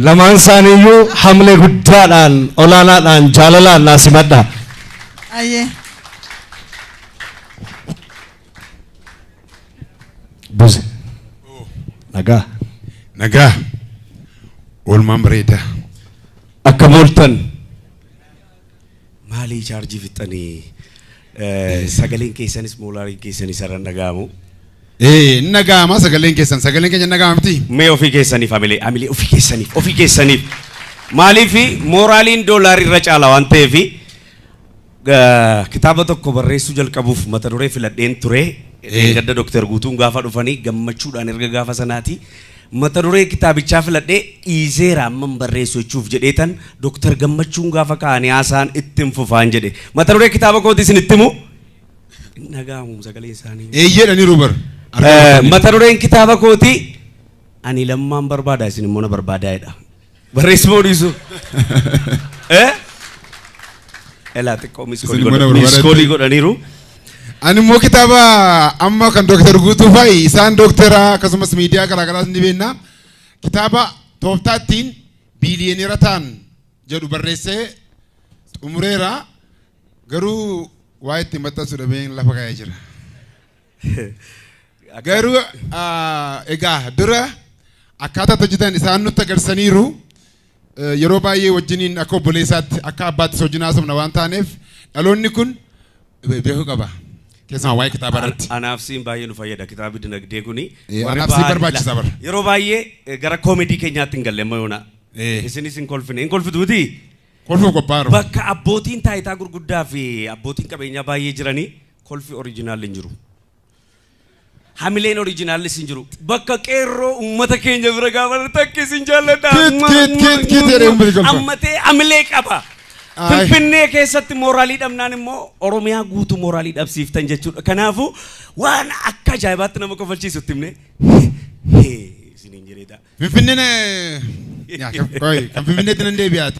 Lamaan isaaniiyyuu hamlee guddaadhaan olaanaadhaan jaalalaan naa simadha. Ayyee. Buze. Nagaa. Nagaa. Oolmaan bareedaa. Akka mooltan. Maalii chaarjii fixxanii sagaleen keessanis moolaariin keessanis irra hin dhaga'amu. Ee hin dhaga'ama sagaleen keessan sagaleen keenya hin dhaga'ama miti. Mee ofii keessaniif hamilee hamilee ofii keessaniif ofii keessaniif maaliif mooraaliin doolaari irra caala waan ta'eef kitaaba tokko barreessuu jalqabuuf mata duree filadheen ture. Gadda Dooktar Guutuun gaafa dhufanii gammachuudhaan erga gaafa sanaati Mata duree kitaabichaa filadhee dhiiseera amman barreessu jechuuf jedheetan Dr. Gammachuun gaafa ka'ani haasaan ittin fufaan jedhe. Mata duree kitaaba kooti isin itti himu? Hin dhaga'amuum sagaleen isaanii. Eeyyee jedhaniiru bar. Mata dureen kitaaba kooti Ani Lammaan barbaada isin immoo na barbaadaa jedha. Barreessi moo dhiisu? Eh? Elaa xiqqoo Isin mana barbaadatti- miiskoolii godhaniiru. Ani immoo kitaaba amma kan Dooktar Guutuu fa'i isaan Dooktara akkasumas miidiyaa garaagaraas ni beekna. Kitaaba tooftaa ittiin biiliyoneera ta'an jedhu barreessee xumureera. Garuu waa itti maxxansu dhabeen lafa kaa'ee jira. Garuu ah, egaa dura akkaataa itti hojjetan isaan nutti agarsiisaniiru. Eh, Yeroo baay'ee wajjiniin akka obboleessaatti akka abbaattis wajjin haasofna waan taaneef dhaloonni kun be- beekuu qaba. Keessumaa waa'ee kitaabaa irratti. Anaaf siin baay'ee nu fayyada kitaabni dinagdee kuni. Eh, Warri anaaf siin ba'aa- barbaachisa bara. Yeroo baay'ee eh, gara koomedii keenyaatti hin galle amma yoona. Eh. Isinis hin kolfine hin kolfitu miti. Kolfuuf qophaa'aru. Bakka abbootiin taayitaa gurguddaa fi abbootiin qabeenyaa baay'ee jiranii Kolfi original hin jiru. Hamileen originallis hin jiru. Bakka qeerroo ummata keenya bira gaafa jirtu akka isin jaalladha. Kit, Mwah, kit, mwah, kit, kit mwah, jedhee mwah. ummati kolfa. Ammatee hamilee qaba. Ayi. Finfinnee keessatti mooraalii dhabnaan immoo Oromiyaa guutuu mooraalii dhabsiiftan jechuudha. Kanaafuu waan akka ajaa'ibaatti nama kofalchiisu itti himne. Isiniin jedheetaa. Finfinneen eh, yaa, kan- qoy, kan Finfinneetti nan deebi'aati.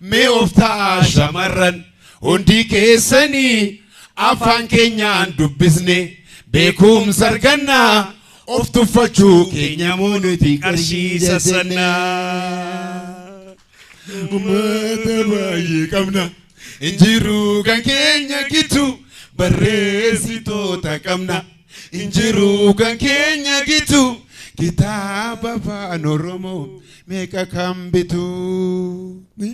Mee of ta'aa shamarran hundii keessanii afaan keenyaan dubbisne beekumsa arganna of tuffachuu keenya moo nuti qarshii sassanna. Uummata baay'ee qabna hin jiru kan keenya gitu barreessitoota qabna. Hin jiru kan keenya gitu kitaaba afaan oromoo meeqa kan bitu. Ni?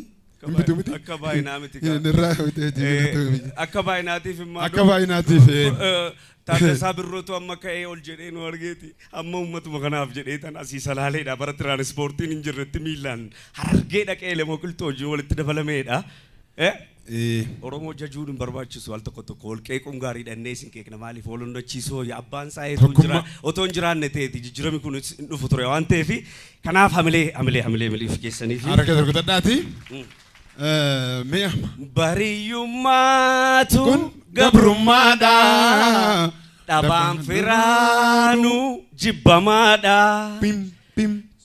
Hin bitu miti? Akka baay'inaa miti kaa. Hin irraa bitee Eh, jiru. Akka baay'inaatiif immoo Akka baay'inaatiif. eh. Eh, Taaddasaa Birrootu amma ka'ee ol jedhee nu argeeti. Amma uummatuma kanaaf jedhee tan asii salaaleedha. Bara tiraanispoortiin hin jirretti miilaan harargee dhaqee lemoo qilxoo hojii walitti dabalameedha. Eh, Oromoo jajuun hin barbaachisu al tokko tokko wal qeequun gaariidha innee isin qeeqna maaliif wal onnachiisuu wayya abbaan isaa eetuu hin jira otoo hin jiraanne ta'eeti jijjiirami kun hin dhufu ture waan ta'eef kanaaf hamilee hamilee hamilee miliif keessanii fi Harka dargutadhaati. Mee amma. bariyummaatu Kun gabrummaadha. gabrummaadha dhabaan firaanu jibbamaadha Pim pim.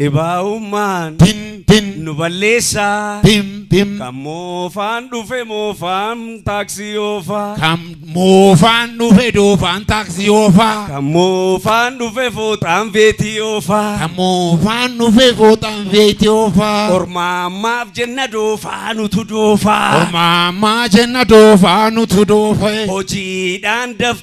Dhibaa'ummaan Tim tim nu balleessaa. tim tim Kan moofaan dhufe moofaan taaksii oofaa. kan moofaan dhufe doofaan taaksii oofaa Kan moofaan dhufe fooxaan veetii oofaa. kan moofaan dhufe fooxaan veetii oofaa Ormaammaaf jenna doofaa nutu doofaa. ormaamaa jenna doofaa nutu doofe. Hojiidhaan daf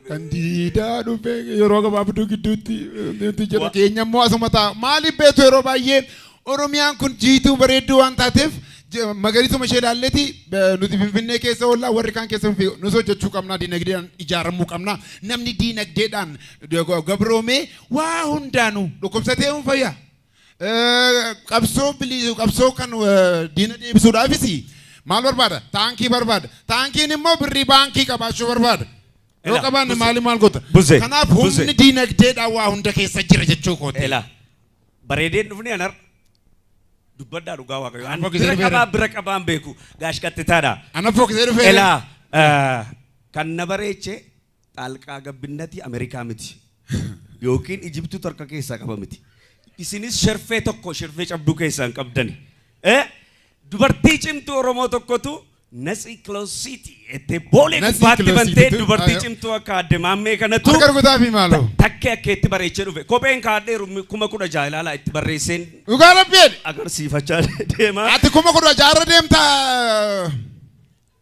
Kan diidaa dhufe yeroo gabaabduu gidduutti nuti jedha Wa- keenya immoo asuma ta'a. Maaliif beektu yeroo baay'ee Oromiyaan kun jiituu bareedduu waan taateef je- magariisuma ishee ilaalleeti eh, nuti Finfinnee keessa oollaa warri kaan keessa fi nus hojjechuu qabnaa diinagdeedhaan ijaaramuu qabnaa namni diinagdeedhaan eh, gabroomee waa hundaanuu dhukkubsatee hin fayyaa. Qabsoo bilii qabsoo kan diina deebisuudhaafis maal barbaada? Taankii barbaada. Taankiin immoo birrii baankii qabaachuu barbaada. Yoo Ela, qabaanne buze. maali maal goota? Buze, Kanaaf buze. humni diinagdeedhaan waa hunda keessa jira jechuu kooti. Ela. Bareedeen dhufni anar. Dubbadhaa dhugaa waaqayyo. Ani Ani fokkisee bira dhufeera. qabaa bira qabaan beeku. Gaash qaxxitaadha. Ana fokkisee dhufee. Ela. eh, Kan na bareeche Xaalqaa gabbinnatii Amerikaa miti. Yookiin Ijibtutu harka keessaa qaba miti. Isinis sherfee tokko sherfee cabduu keessaa hin qabdani. Eh? Dubartii cimtuu Oromoo tokkotu Natsi Closity jettee boolee Natsi gubbaatti Closity bantee tu- dubartii ayo. cimtuu akka adde maammee kanatu Harka rukutaafi maaloo. takkee akka itti bareechee dhufe. Kopheen kaadheeru kuma kudha jaha ilaalaa itti barreesseen Dhugaa rabbiin. agarsiifachaa deema. Ati kuma kudha jaarra deemtaa.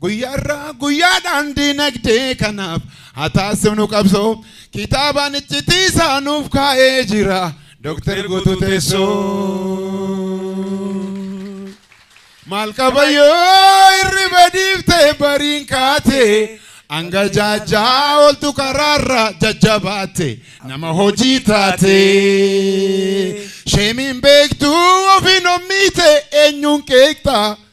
Guyyaarraa guyyaadhaan diinagdee kanaaf haa taasifnu qabsoo kitaabaan iccitii isaa nuuf kaa'ee jira Dooktar Guutuu Teessoo. Maal qaba yoo hirriba dhiiftee bariin kaatee hanga jaajaa ooltu karaarra jajjabaate nama hojii taate. Sheemiin beektuu ofiin ommiite eenyuun qeeqxa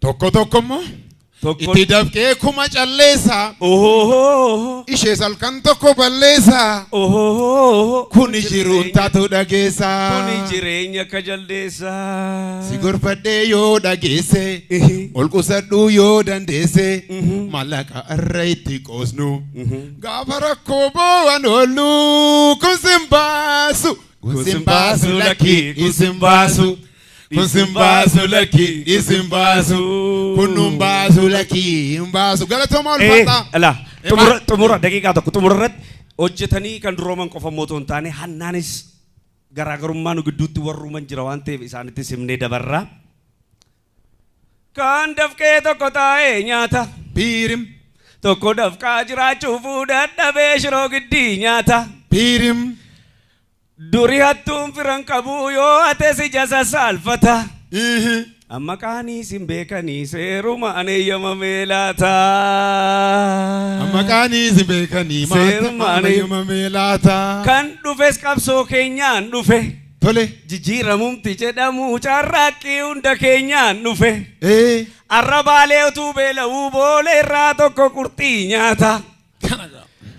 Tokko tokko immoo Tokko- itti dafqee kuma calleessa. Ohoo. Ishees halkan tokko balleessa. Ohoo. Kuni jiruun taatu dhageessa. Kuni jireenya akka jaldeessa. Si gorfadhee yoo dhageesse. Ihi. Ol qusadhuu yoo dandeesse. Mhm. Mallaqa irra itti qoosnu. Mhm. Gaafa rakkoo boo'an oollu kun sin baasu. Kun sin baasu lakkii kun sin baasu. Kun sin baasu lakki isin baasu kun nun baasu lakki hin baasu galatooma Eh, ulfaataa. ala Eh, xumura maal- xumura daqiiqaa tokko xumura irratti hojjetanii kan durooman qofa immoo otoo hin taane hannaanis garaagarummaa nu gidduutti warruuman jira waan ta'eef isaanitti simnee dabarraa. Kan dafqee tokko taa'ee nyaata. Piirim. Tokko dafqaa jiraachuuf dadhabee shiroo giddii nyaata. Piirim. Duri hattuun firan qabuu yoo hate si jasa saalfata. Amma qaanii sin beekanii seerumaan eeyyamamee laata. Amma qaanii sin beekanii maasummaan eeyyamamee laata. Kan dhufes qabsoo keenyaan dhufe. Tole. Jijjiiramumti jedhamu carraaqqii hunda keenyaan dhufe. Arrabaalee utuu beela'uu boolee irraa tokko qurxii nyaata.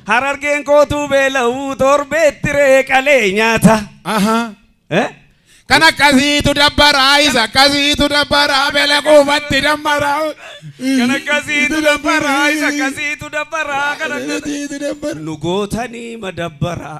Harargeen kootuu beela'uu torbeetti ree qalee nyaata. Ahaa. Eh? Kan akkasiitu dabbaraa isa akkasiitu dabbaraa beela quufatti dammaraa. Kan akkasiitu dabbaraa isa akkasiitu dabbaraa kan akkasiitu. Akkasiitu dabbara. Nu gootanii madabbaraa.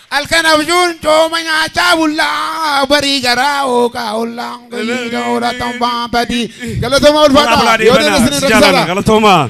Halkan abjuun cooma nyaachaa bulla barii garaa hooqaa olla hojiidha hoolatan baabadii galatoomaa Horaa bulaa ulfaadha yoo deemaa deebiin isin deemana. Si jaalana. rakkisaadha. Galatoomaa.